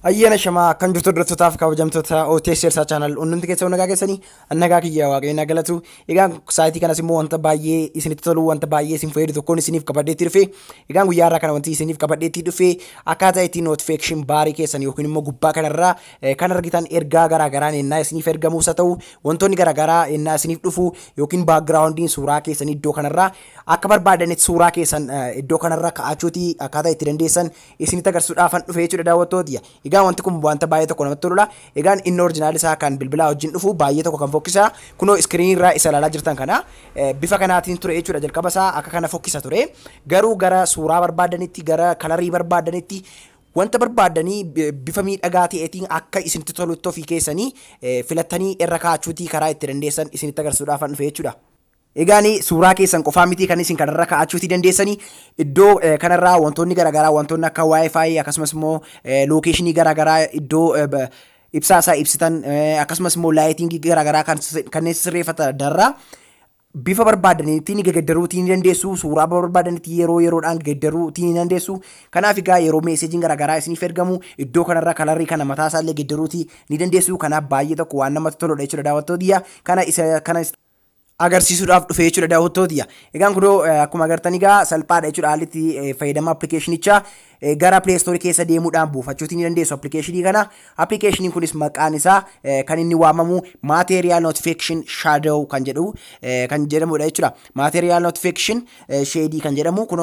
Ayyaana shamaa kan jirtu hordoftotaaf kabajamtoota OTS Elsaa Chaanal hundumti keessa nagaa keessanii nagaa kiyya waaqayyoon haa galatu. Egaa saayitii kanas immoo wanta baay'ee isinitti tolu wanta baay'ee isin fayyadu tokkoon isiniif qabadheetti dhufe. Egaa guyyaa irraa kana wanti isiniif qabadheetti dhufe akkaataa itti notification baarii keessan yookiin immoo gubbaa kanarraa Kan argitan ergaa garaagaraan ennaa isiniif ergamuus haa ta'u, wantoonni garaagaraa ennaa isiniif dhufu yookiin background'n suuraa keessanii iddoo kanarraa akka barbaadanitti suuraa keessan iddoo kanarra ka'achuuti akkaataa itti dandeessan isinitti agarsiisuudhaafan dhufe jechuudha daawwattootiyya. Egaa wanti kun wanta baay'ee tokko namatti toludha. Egaan inni orjinaal isaa kan bilbilaa wajjin dhufu baay'ee tokko kan fokkisa. Kunoo iskiriinii irraa isa ilaalaa jirtan kana bifa kanaatiin ture jechuudha jalqaba isaa akka kana fokkisa ture. Garuu gara suuraa barbaadanitti gara kalarii barbaadanitti Wanta barbaaddanii bifa miidhagaa ta'eetiin akka isinitti tolutti ofii keessanii filattanii irra kaa'achuutii karaa itti dandeessan isinitti agarsiisuudhaafan dhufe jechuudha. Egaan suuraa keessan qofaa miti kan isin kanarra kaa'achuutii dandeessanii iddoo kanarraa wantoonni garaagaraa wantoonni akka wifi akkasumas immoo lookeeshinii garaagaraa iddoo ibsaa isaa ibsitan akkasumas immoo laayitingii garaagaraa kanneen sirreeffatan darraa Bifa barbaadanitti ni geggeddaruu tii ni dandeessu. Suuraa barbaadanitti yeroo yeroodhaan geeddaruu tii ni dandeessu. Kanaaf egaa yeroo meeseejiin garaagaraa isiniif ergamu iddoo kanarra kalarrii kana mataa isaa illee geeddaruu tii ni dandeessu. Kanaaf baay'ee tokko waan namatti toludha jechuudha daawwattootiyya. Kana isa kana agarsiisuudhaaf dhufe jechuudha daawwattootiyya. Egaan kunoo akkuma agartan egaa salphaadha jechuudha haalli itti fayyadama appilikeeshinichaa. Gara Play Store keessa deemuudhaan buufachuuti ni dandeessu appilikeeshinii kana. Appilikeeshiniin kunis maqaan isaa kan inni waamamu Material Notification Shadow kan jedhu kan jedhamudha jechuudha. Material Notification Shadee kan jedhamu kun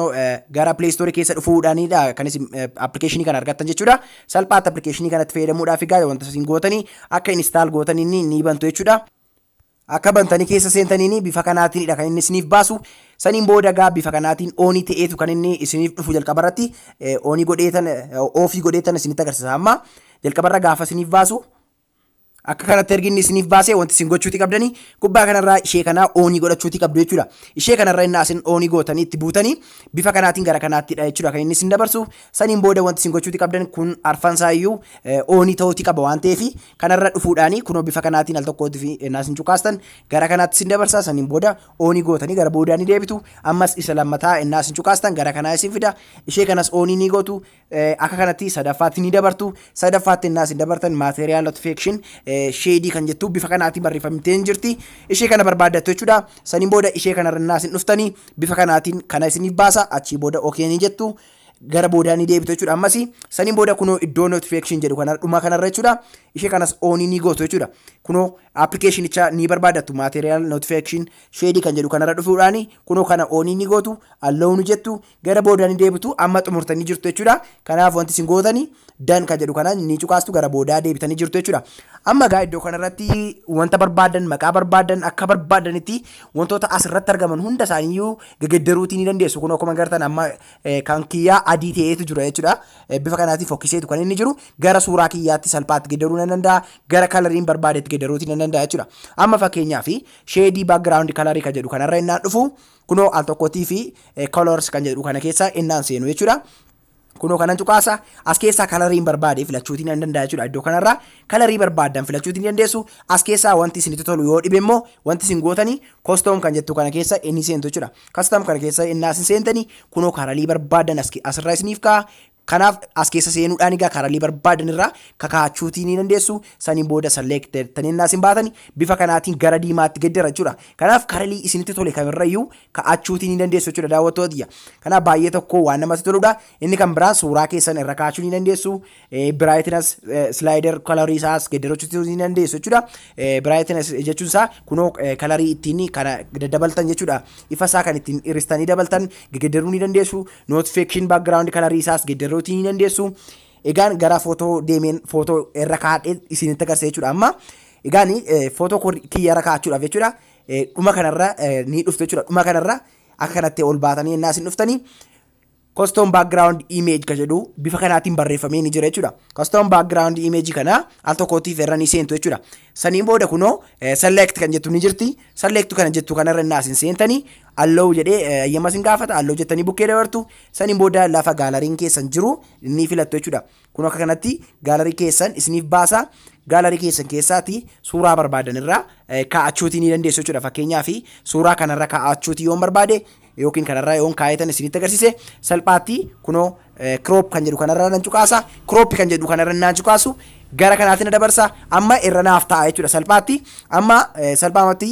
gara Play Store keessa dhufuudhaanidha kan isin appilikeeshinii kana argattan jechuudha. Salphaatti appilikeeshinii kanatti fayyadamuudhaaf egaa wanta isin gootanii akka install gootan inni ni bantu jechuudha. Akka bantanii keessa seentaniin bifa kanaatiinidha kan inni isiniif baasu. Saniin booda egaa bifa kanaatiin oonii ta'eetu kan inni isiniif dhufu jalqaba irratti oonii godheetan oofii godheetan isinitti agarsiisa amma jalqabarra gaafa isiniif baasu akka kanatti ergi inni isiniif baasee wanti isin gochuuti qabdanii gubbaa kanarraa ishee kanaa oonii godhachuuti qabdu jechuudha. Ishee kanarra inni asin oonii gootanii itti buutanii bifa kanaatiin gara kanaattidha jechuudha kan inni isin dabarsu. Saniin booda wanti isin gochuuti qabdan kun arfansaa iyyuu oonii ta'uuti qaba waan ta'eef Kanarra dhufuudhaani kunoo bifa kanaatiin al tokkootiif ennaa isin cuqaastan gara kanaatti isin dabarsa saniin booda oonii gootanii gara boodaa ni deebitu ammas isa lammataa ennaa isin cuqaastan gara kanaa isin fida ishee kanas oonii ni gootu akka kanatti sadaffaatti ni dabartu sadaffaatti ennaa isin dabartan material notification sheedii kan jettu bifa kanaatiin barreeffamtee hin jirti ishee kana barbaaddattu jechuudha saniin booda ishee kanarra ennaa isin dhuftanii bifa kanaatiin kana isiniif baasa achii booda okee ni jettu gara boodaa ni deebitu jechuudha ammas saniin booda kunoo iddoo notification jedhu kana dhumaa kanarra jechuudha ishee kanas oonii ni gootu jechuudha kunoo appilikeeshinicha ni barbaadatu material notification sheedii kan jedhu kanarra dhufuudhaan kunoo kana oonii ni gootu alloonu jettu gara boodaa ni deebitu amma xumurtanii jirtu jechuudha kanaaf wanti isin gootanii dan kan jedhu kana ni cuqaastu gara boodaa deebitanii jirtu jechuudha amma egaa iddoo kanarratti wanta barbaadan maqaa barbaadan akka barbaadanitti wantoota asirratti argaman hunda isaaniiyyuu gegeddaruutii ni dandeessu kunoo akkuma gartan amma kan kiyyaa adii ta'eetu jira jechuudha. Bifa kanaatiin fokkiseetu kan inni jiru gara suuraa kiyyaatti salphaatti geeddaruu nan danda'a. Gara kalariin barbaadetti geeddaruuti nan danda'a jechuudha. Amma fakkeenyaaf sheedii background kalarii kan jedhu kanarra innaan dhufu kunoo al tokkotii fi colors kan jedhu kana keessa innaan seenu jechuudha. Kunoo kanan cuqaasa as keessaa kalariin barbaade filachuutii nan danda'a jechuudha iddoo kanarra kalarii barbaadan filachuutii ni dandeessu as keessaa wanti isinitti tolu yoo dhibe immoo wanti isin gootanii kostoom kan jettu kana keessa inni seentu jechuudha Custom kana keessa innaa isin seentanii kunoo karalii barbaadan as ke- asirraa isiniif ka'a. Kanaaf as keessa seenuudhaan egaa karalii barbaadan irraa kakaachuutii ni dandeessu. Saniin booda select jettanii innaa isin baatani bifa kanaatiin gara diimaatti gad dira jechuudha. Kanaaf karalii isinitti tole kamirrayyuu ka'achuutii ni dandeessu jechuudha daawwattoota tiyya. Kanaaf baay'ee tokko waan namatti toludha. Inni kan biraan suuraa keessan irra kaa'achuu ni dandeessu. Brightness slider kalarii isaa as geeddarachuu ni dandeessu jechuudha. Brightness jechuun isaa kunoo kalarii ittiin kana daddabaltan jechuudha. Ifa isaa kan ittiin hiristanii dabaltan geeddaruu ni dandeessu. Notification background kalarii isaa as geeddaruu ni dandeessu. Egaan gara footoo deemeen footoo irra kaa'adhee isinitti agarsiisa jechuudha. Amma egaan footoo kiyya irra kaa'achuudhaaf jechuudha. Dhuma kanarra ni dhuftu jechuudha. Dhuma kanarra akka kanatti ol baatanii ennaa isin dhuftanii custom background image ka jedhu bifa kanaatiin barreeffamee ni jira jechuudha. Custom background image kana al tokkootiif irra ni seentu jechuudha. Saniin booda kunoo select kan jettu ni jirti. Select kana jettu kana irra naas hin seentanii allow jedhee eeyyama sin gaafata allow jettanii bukkee dabartu. Saniin booda lafa gaalariin keessan jiru ni filattu jechuudha. Kunoo akka kanatti gaalarii keessan isiniif baasa. Gaalarii keessan keessaati suuraa barbaadan irraa kaa'achuutii ni dandeessu jechuudha. Fakkeenyaaf suuraa kanarra kaa'achuutii yoon barbaade yookiin kanarra yoon kaa'eetan isinitti agarsiise salphaatti kunoo crop kan jedhu kanarra nan cuqaasa crop kan jedhu kanarra nan cuqaasu gara kanaatti na dabarsa amma irra naaf ta'a jechuudha salphaatti amma salphaamatti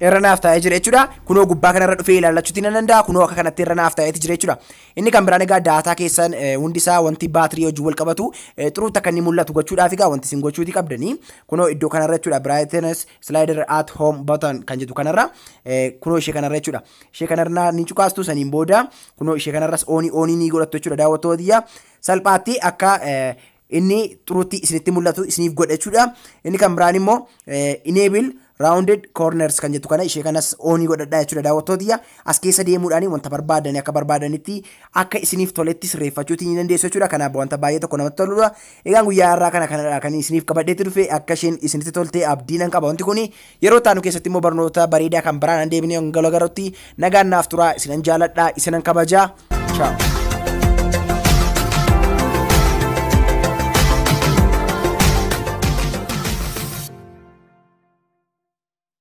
irra naaf taa'ee jira jechuudha. Kunoo gubbaa kanarra dhufee ilaallachuutti nan danda'a. Kunoo akka kanatti irra naaf taa'eeti jira jechuudha. Inni kan biraan egaa daataa keessan eh, hundi isaa wanti baatirii wajjin wal qabatu eh, xuruutti akka inni mul'atu gochuudhaaf egaa wanti isin gochuuti qabdanii. Kunoo iddoo kanarra jechuudha brightness slider at home button kan jedhu kanarra eh, kunoo ishee kanarra jechuudha. Ishee kanarra ni cuqaastu saniin booda kunoo ishee kanarras oonii oonii ni godhattu jechuudha daawwattoota tiyya. Salphaatti akka eh, inni xurutti isinitti mul'atu isiniif godha jechuudha. Inni kan biraan immoo enable rounded corners kan jettu kana ishee kanas oonii godhadhaa jechuudha daawwattootiyya as keessa deemuudhaan wanta barbaadani akka barbaadanitti akka isiniif toletti sirreeffachuuti ni dandeessu jechuudha kanaaf wanta baay'ee tokko namatti toludha egaan guyyaa irraa kana kanadha kan isiniif qabadheetti dhufe akka isheen isinitti tolte abdiinan qaba wanti kuni Yeroo itti aanu keessatti immoo barnoota bareedaa kan biraan deebinee hanga wal agarrutti nagaan naaf turaa isinan jaaladha isinan kabaja. Ciao.